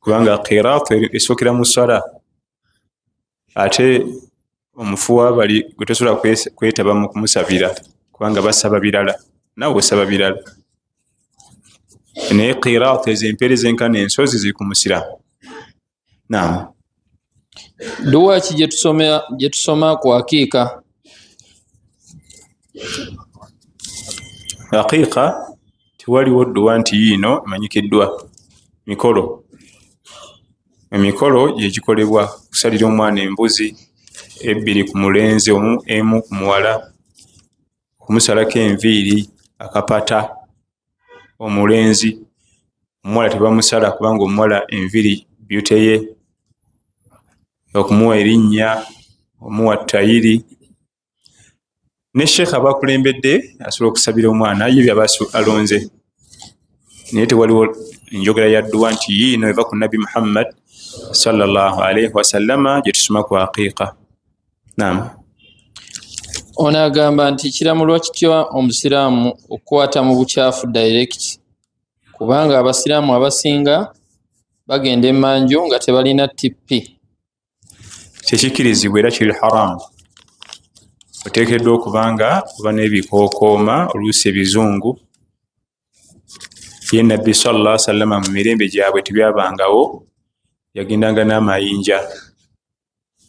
kubanga kiraatu esookera mu sala ate omufu wabali gwe tosobola kwetaba mu kumusabira kubanga basaba birala nawe osaba birala naye kiraatu ezo empeereza enkana ensozi ziri ku musiraamu naamu Dua ki gye tusoma gye tusoma ku aqiqa? Aqiqa tewaliwo dua nti yiino emanyikiddwa mikolo emikolo gye gikolebwa okusalira omwana embuzi ebbiri ku mulenzi omu emu ku muwala okumusalako enviiri akapata omulenzi omuwala tebamusala kubanga omuwala enviri byuteye okumuwa erinnya omuwa tayiri ne sheekha abakulembedde asobola okusabira omwana ye byaba alonze naye tewaliwo enjogera ya dduwa nti yiino eva ku nabbi muhammad salllah alaihi wasallama gyetusoma ku aqiiqa Naam. Ono agamba nti kiramulwa kitya omusiraamu okukwata mu bukyafu direct kubanga abasiraamu abasinga bagenda emanju nga tebalina tp kyekikirizibwa era kiri haramu oteekeddwa okuba nga oba n'ebikookooma oluusi ebizungu ye nabbi salla sallama mu mirembe gyabwe tebyabangawo yagendanga n'amayinja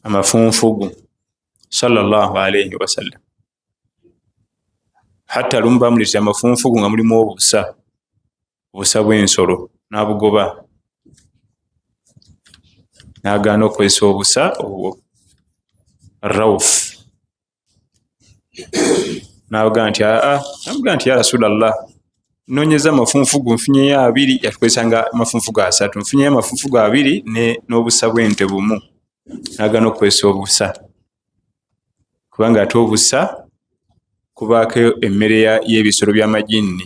amafunfugu salllahalaihi wasallam hatta lumu bamuleta amafunfugu nga mulimu obusa obusa bwensolo nabugoba nagaana okukozesa obusa obwo rauf nabaga nti aa ah, ah. namuga nti ya rasulllah nonyeza amafunfu go nfunyeyo abiri yatukozesa nga amafunfu go asatu nfunyeyo amafunfu go abiri n'obusa bwente bumu nagana okukozesa obusa kubanga ate obusa kubaako emmere y'ebisolo by'amajinni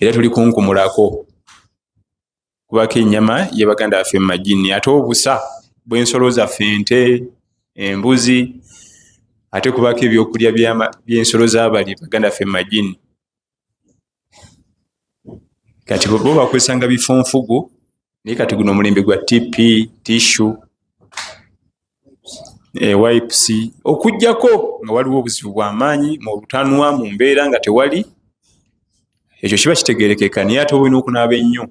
era tuli kunkumulako kubako enyama yebaganda baffe mumajini ate obusa bwensolo zaffe ente embuzi ate kubako ebyokulya byensolo zabali baganda ffe mumajini kati bo bakozesanga bifunfugu naye kati guno omulembe gwa tp tissu ewipc eh, okujjako nga waliwo obuzibu bwamaanyi mu butanwa mu mbeera nga tewali ekyo kiba kitegerekeka naye ate olina okunaaba ennyo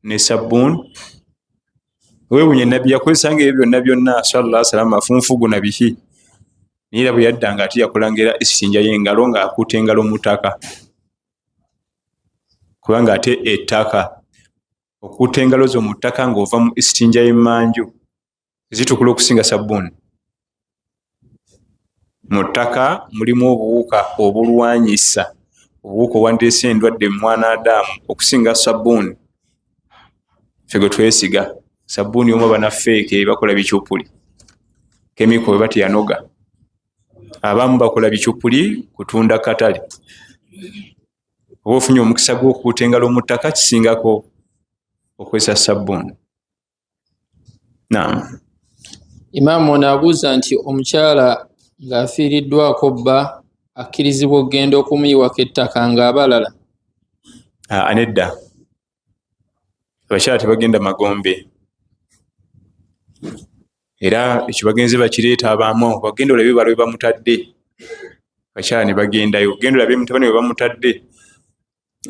ne sabbuun wewunya nabbi yakozesa nga ebyo byonna byonna sallah salama afunfugu na bihi naye era bwe yadda nga ate yakolanga era esinja yengalo ng'akuuta engalo mu ttaka kubanga ate ettaka okuuta engalo zo mu ttaka ng'ova mu istinja y'emmanju zitukula okusinga sabbuuni mu ttaka mulimu obuwuka obulwanyisa obuwuka obwandiresa endwadde mumwana adamu okusinga sabbuuni fe gwe twesiga sabbuuni omu abanafeeke bakola bicupuli kemiko bwe bateyanoga abamu bakola bicupuli kutunda katale oba ofunye omukisa gwokuuta engalo mu ttaka kisingako okozesa sabbuuni naam imaamu ono abuuza nti omukyala ng'afiiriddwako bba akkirizibwa okugenda okumuyiwako ettaka ng'abalala ah, anedda abakyala tebagenda magombe era ekyo bagenze bakireeta abamu bagenda olabe bala we bamutadde abakyala ne bagendayo genda olabe mutabani we bamutadde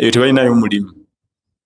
eyo tebalinayo mulimu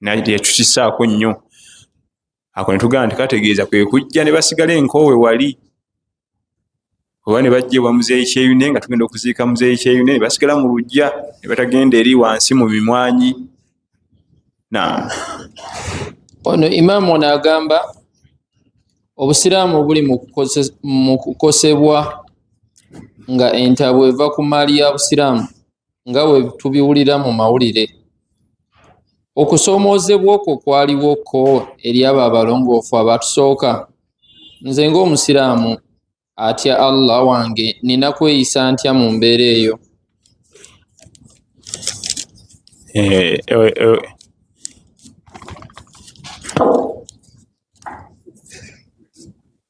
naye teyakisaako nnyo ako ne tugamba nti kategeeza kwe kujja ne basigala enkoowe wali oba ne bajja ewa muzeeyi kyeyune nga tugenda okuziika muzeeyi kyeyune ne basigala mu lujja ne batagenda eri wansi mu mimwanyi na ono imaamu ono agamba obusiraamu buli mu kukosebwa nga entabwe eva ku maali ya busiraamu nga we tubiwulira mu mawulire okusoomoozebwa okwo kwaliwo ko eri abo abalongoofu abatusooka nze ng'omusiraamu atya allah wange nina kweyisa ntya mu mbeera eyo eh, eh, eh.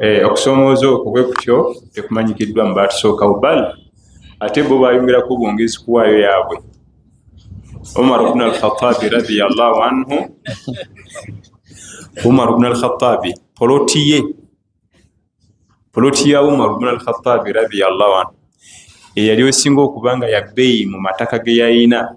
Eh, okusomooza okwo bwe kutyo tekumanyikiddwa mu baatusookawo bal ate bo bayongerako bwongezi kuwaayo yaabwe umar bnu alkhatabi radiallahu anhu umar bnu alkhatabi poloti ye poloti ya umar bnu alkhatabi radiallahu anhu eyali osinga okuba nga yabeeyi mu mataka ge yayina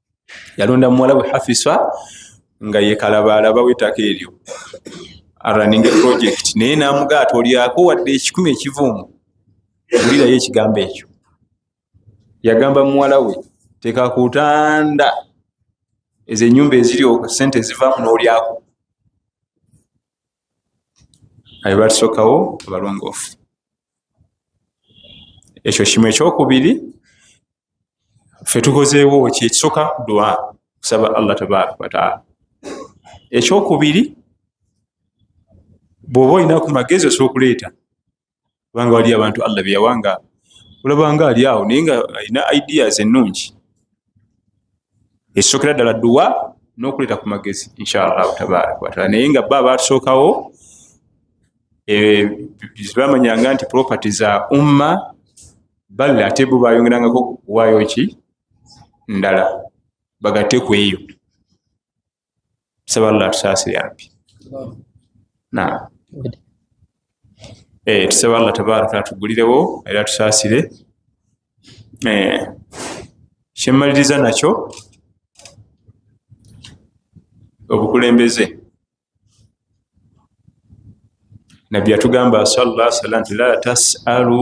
yalonda muwala we hafisa nga yekalabaalaba wetaka eryo araning project naye namugaa tolyako wadde ekikumi ekivuumu wulirayo ekigambo ekyo yagamba muwala we tekakutanda ezo enyumba eziri sente ezivaamu nolyako abe batusookawo abalongoofu ekyo kimu ekyokubiri fe tukozeewo ki ekisooka dua kusaba allah tabaraka wataala ekyokubiri bwoba olinaku magezi osobola okuleeta kubanga waliyo abantu allah beyawanga olabanga ali awo naye nga alina ideas ennungi ekisookera ddala duwa n'okuleeta ku magezi inshallah tabaraka wataala naye nga ba batusookawo bamanyanga nti property za umma bali ate bo bayongerangako kuwaayo ki ndala bagate ku eyo Tusaba Allah atusaasire ampi. Naam. Eh, tusaba Allah tabaraka atugulirewo era tusaasire. Eh, kyemmaliriza nakyo obukulembeze nabbi yatugamba sala salam nti la tasalu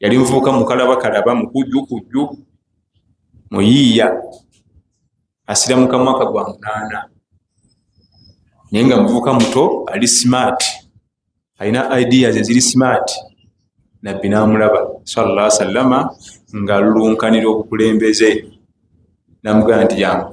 yali muvubuka mukalabakalaba mukujjukujju muyiiya asira mu kamwaka gwa munaana naye nga muvubuka muto ali smart alina ideas eziri smart nabbi namulaba salla sallama nga lulunkanira obukulembeze namugamba nti yangu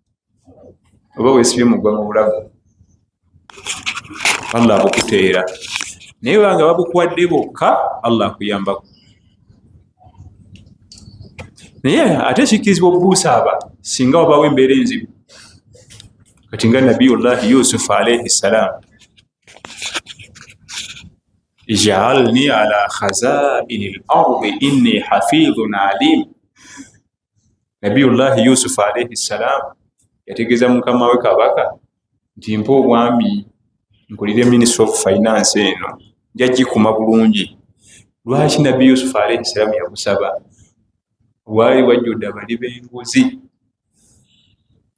oba wesibye mugwa mu bulago allah akukuteera naye banga babukuwadde bokka allah akuyambako naye ate kikkirizibwa okubuusa aba singa wabawo embeera enzibu kati nga nabiyullahi yusufu alaihi ssalaamu ijaalni ala khazaini lardi inni hafidhun alimu nabiyullahi yusufu alaihi ssalaamu yategeeza mukama we kabaka nti mpa obwami nkulire ministry of finance eno nja gikuma bulungi lwaki nabbi yusufu alaihi ssalaamu yagusaba waali wajjudde abali b'enguzi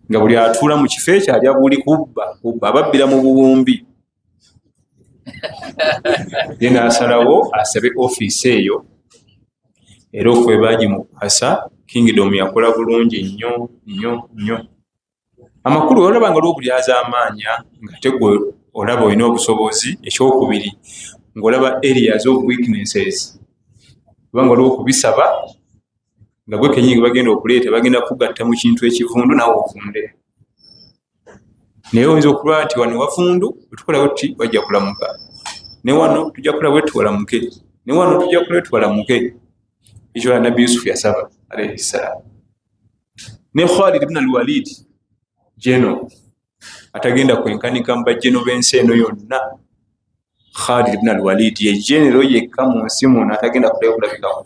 nga buli atuula mu kifo ekyo alya buli kubba kubba ababbira mu buwumbi ye nasalawo asabe ofiisi eyo era okwebaji mukuhasa kingdom yakola bulungi nnyo nnyo nnyo amakulu olaba nga lwokulyaza amaanya nga tegwe olaba olina obusobozi ekyokubiri ngaolaba areas of weaknesses kubanga olaba okubisaba nga gwe kenyingi bagenda okuleeta bagenda kugatta mu kintu ekivundu nawe ofunde naye oyinza okuba nti wano wafundu otukola wetti wajja kulamuka ne wano tujja kula wetti walamuke ne wano tujja kula wetti walamuke ekyo la nabbi yusufu yasaba alaihi salaam ne khalid bna alwalid jeno atagenda kwenkanika mu bajeno b'ensi eno yonna khalid bna alwalid ye genero yekka mu nsi muno atagenda kulakulabikako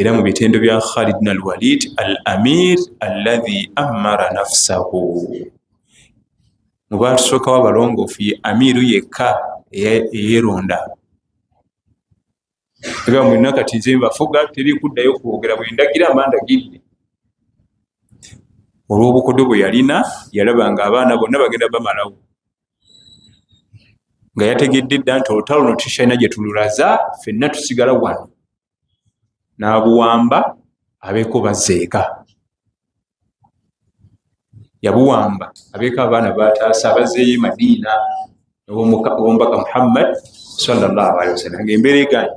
era mu bitendo bya khalid na alwalid al amir alladhi amara nafsahu mubatusookawo abalongoofu ye amiru yekka eyeronda ega mulina kati nze mbafuga teri kuddayo kwogera bwendagira mba ndagidde olw'obukodo bwe yalina yalaba nga abaana bonna bagenda bamalawo nga yategedde dda nti olutalo no tukyalina gye tululaza fenna tusigala wano n'abuwamba abeeko bazeeka yabuwamba abeeko abaana bataasa abazeeyo madiina owomubaka muhammad salllahalihi wasallam nga embeera eganyi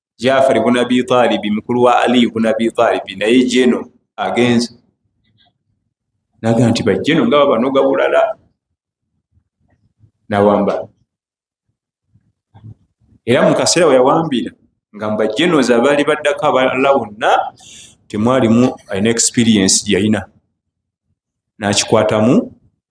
jafari buna bitalibi mukulu wa aliyu buna bitalibi naye jeno agenze naga nti bajeno nga babanoga bulala nawamba era mukaseera weyawambira nga mbajenoz abaali baddako abalala wonna temwalimu alina experience yalina nakikwatamu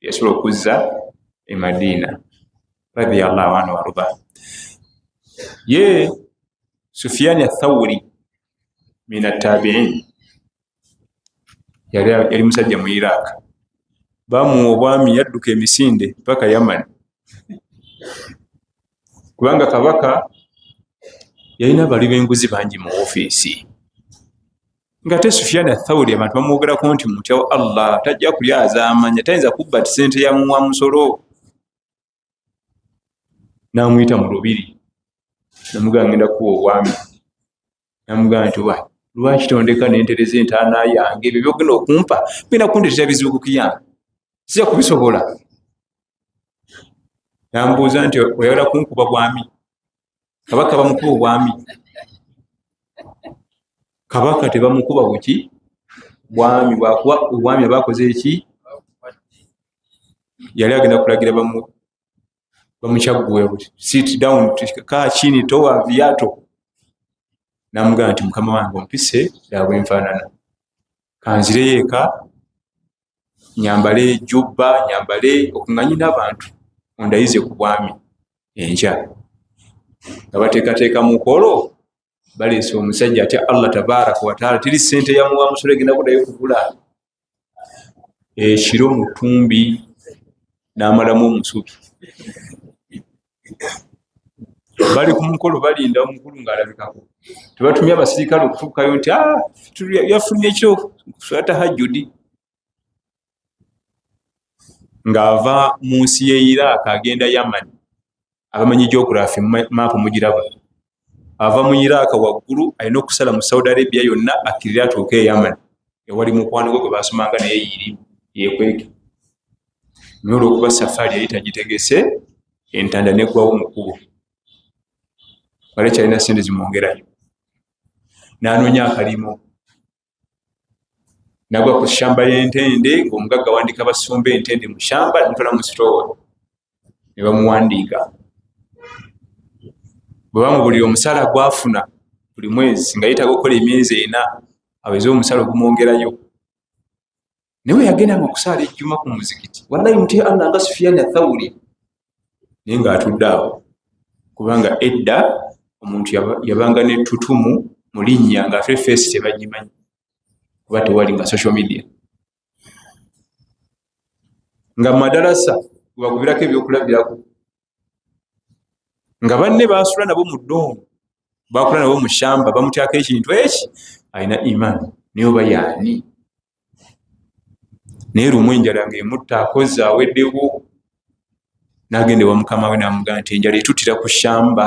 yasobola okuzza e madiina radiallahu anhu waruba ye sufiyaani athawuri min attabiin yali musajja mu iraq bamuwa obwami yadduka emisinde paka yaman kubanga kabaka yalina abali benguzi bangi mu ofiisi ngate sufiana thauri abantu bamwogerako nti mutya wa allah tajja kulya azamanya tayinza kubba ti sente yamuwa musolo namuyita mu lubiri namugaa ngenda kuwa obwami namugaa nti wa lwaki tondeka nentereza entaana yange ebyo byogenda okumpa bina kundetera bizibu kukiyange sija kubisobola nambuuza nti oyagala kunkuba bwami kabaka bamukuba obwami kabaka tebamukuba buki bwami bwakuba obwami abakoze eki yali agenda kulagira bamukyagguwe buti sit down kaa kini towa viato namugamba nti mukama wange ompise labwenfaanana kanzireyo eka nyambale jubba nyambale okunganyi nabantu ondayize ku bwami enkya nga bateekateeka mukolo baleese omusajja atya allah tabaraka wataala teri sente yamuwa musolo egenda kudayo kugula ekiro mutumbi namalamu omusubi bali ku mukolo balinda omukulu ng'alabikako tebatumye abasirikale okutuukayo nti ah, yafunye ekyo swata hajjudi ng'ava mu nsi ye iraaka agenda yamani abamanyi geography maapu mugiraba ava mu iraaka waggulu alina okusala mu saudi arabia yonna akkirira atuuka eyamani ewali mukwano gwe gwe basomanga naye yiri yekweke naye olwokuba safaari yali tagitegese entanda neggwawo mukubo wali kyalina sente zimwongerayo nanoonya akalimo nagwa ku shamba yentende ngaomugagga wandika basumba entende mu shamba ntola mu sitoowa ne bamuwandiika bwe bamubulira omusaala gwafuna buli mwezi nga yetaaga okukola emyezi ena aweze omusaala ogumwongerayo naye weyagendanga okusaala ejjuma ku muzikiti wallahi mutya allah nga sufiyani athawuli naye ngaatudde awo kubanga edda omuntu yabanga netutumu mu linnya ngaate feesi tebagimanyi kuba tewali nga social media nga madalasa webakubirako ebyokulabirako nga banne basula nabo mu doomu bakula nabo mu shamba bamutyako ekintu eki alina iman naye oba yaani naye lumu enjala nga emutta akozi aweddewo nagenda ewa mukama we namugaa nti enjala etutira ku shamba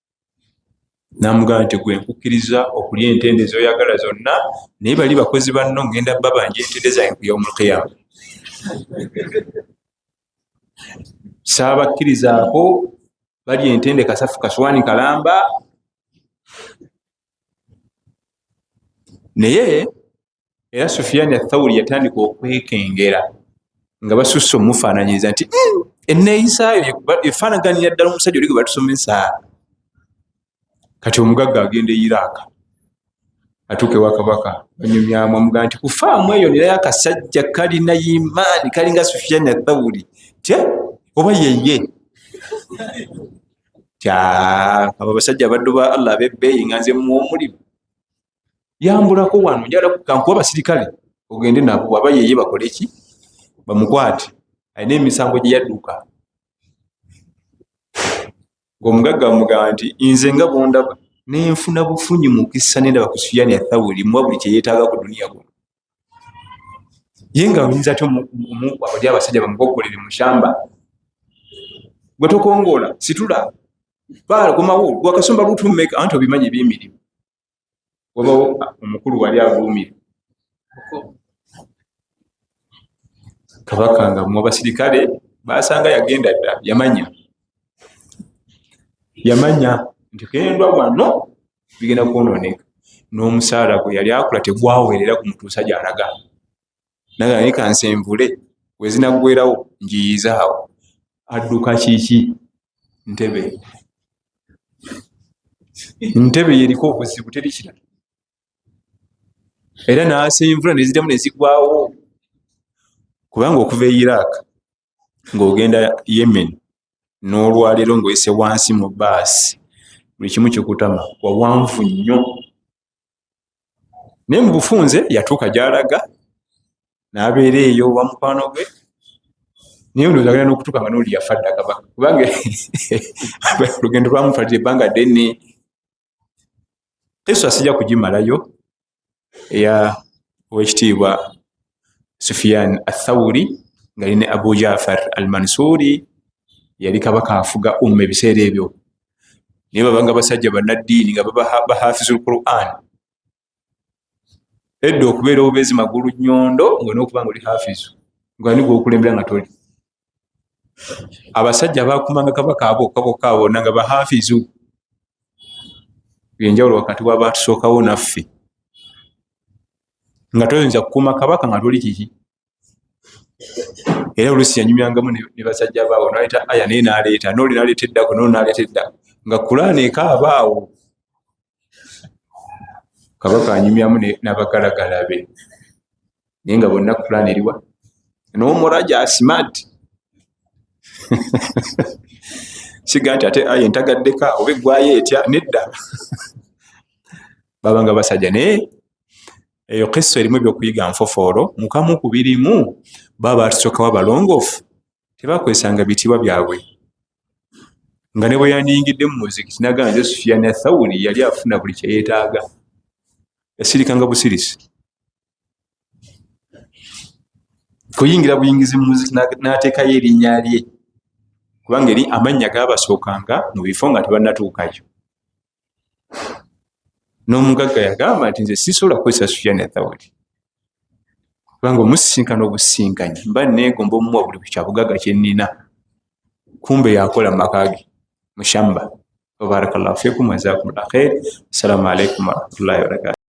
namugamba nti gwe nkukkiriza okulya entende zoyagala zonna naye bali bakozi banno ngenda babanja entende zange kuyomulkiyama saabakkirizaako bali entende kasafu kaswani kalamba naye era sufiyaani athawuli yatandika okwekengera nga basusse omufaananyiriza nti hmm, enneeyisaayo efaanaganira ddala omusajja oli gwe batusomesa kati omugagga agenda eyiraaka atuuka ewa kabaka banyumyamu amuga nti kufaamu eyo nerayo akasajja kalina yimaani kalinga sufiyaani athawuli tya oba yeye abo abasajja abaddu ba allah abebbeeyi nga nze muwa omulimu yambulako wano njala kankuba abasirikale ogende nabo waba yeye bakole ki bamukwate alina emisango gye yadduka ngaomugagga bamugamba nti nze nga bondaba nenfuna bufunyi mukisa nendaba ku suyani athawuli muwa buli kyeyetaaga ku duniya guno ye nga oyinza ty omuabali abasajja bamugogolere mushamba gwe tokongoola situla baala komawo gwakasumba lutummeka anti obimanyi ebyemirimu wabawo omukulu wali avuumira kabaka nga mwabasirikale basanga yagenda dda yamanya yamanya nti kendwa wano bigenda kwononeka n'omusaala gwe yali akula tegwawerera ku mutuusa gyalaga naga naye kansenvule wezinaggwerawo njiyiza awo adduka kiki ntebe ntebe yeriko obuzibu teri kirala era nasenvula neziddamu nezigwawo kubanga okuva e iraq ng'ogenda yemen n'olwaleero ng'oyise wansi mu baasi buli kimu kikutama wawanvu nnyo naye mu bufunze yatuuka gy'alaga n'abeera eyo wa mukwano gwe naye ndowooza agenda n'okutuuka nga n'oli yafa ddakaba kubanga olugendo lwamufalira ebbanga ddene eso asija kugimalayo eya owekitiibwa sufiyan athauri nga line abu jafar al mansuri yali kabaka afuga umma ebiseera ebyo naye babanga basajja banaddiini nga bahafiza lquran edda okubeera obubezi magulu nyondo nga nokuba nga oli hafizu ngani gwokulembera nga toli abasajja abakumanga kabaka abokabokaabona nga bahafizu enjawulo wakati wabatusookawo naffe nga toyinza kukuuma kabaka nga toli kiki era oluusi yanyumyangamu ne basajja baawo naleeta aya naye naleeta nooli naleeta eddako noo naleeta edda nga kulaana ekaaba awo kabaka anyumyamu nabagalagala be naye nga bonna kulaana eriwa nomuraja smart siga nti ate aya entagaddeka oba eggwayo etya nedda babanga basajja naye eyo kissa erimu ebyokuyiga nfofoolo mukamu ku birimu baba baatusokawa balongoofu tebakwesanga bitiibwa byabwe nga ne bwe yandiyingidde mu muziki tinaga nze sufiyani athawuli yali afuna buli kyeyeetaaga yasirikanga busirisi kuyingira buyingizi mu muziki n'ateekayo erinnya lye kubanga eri amannya gaabasookanga mu bifo nga tebanatuukayo n'omugagga yagamba nti nze sisobola kukozesa sufyani athawuli kubanga omusisinkana obusinkanyi mba neegomba omuwa buli kyabugagga kye nnina kumbe yakola mu maka ge mushamba wabarakallahu fikum wazakumullah khair assalamu alaikum warahmatullahi wabarakatu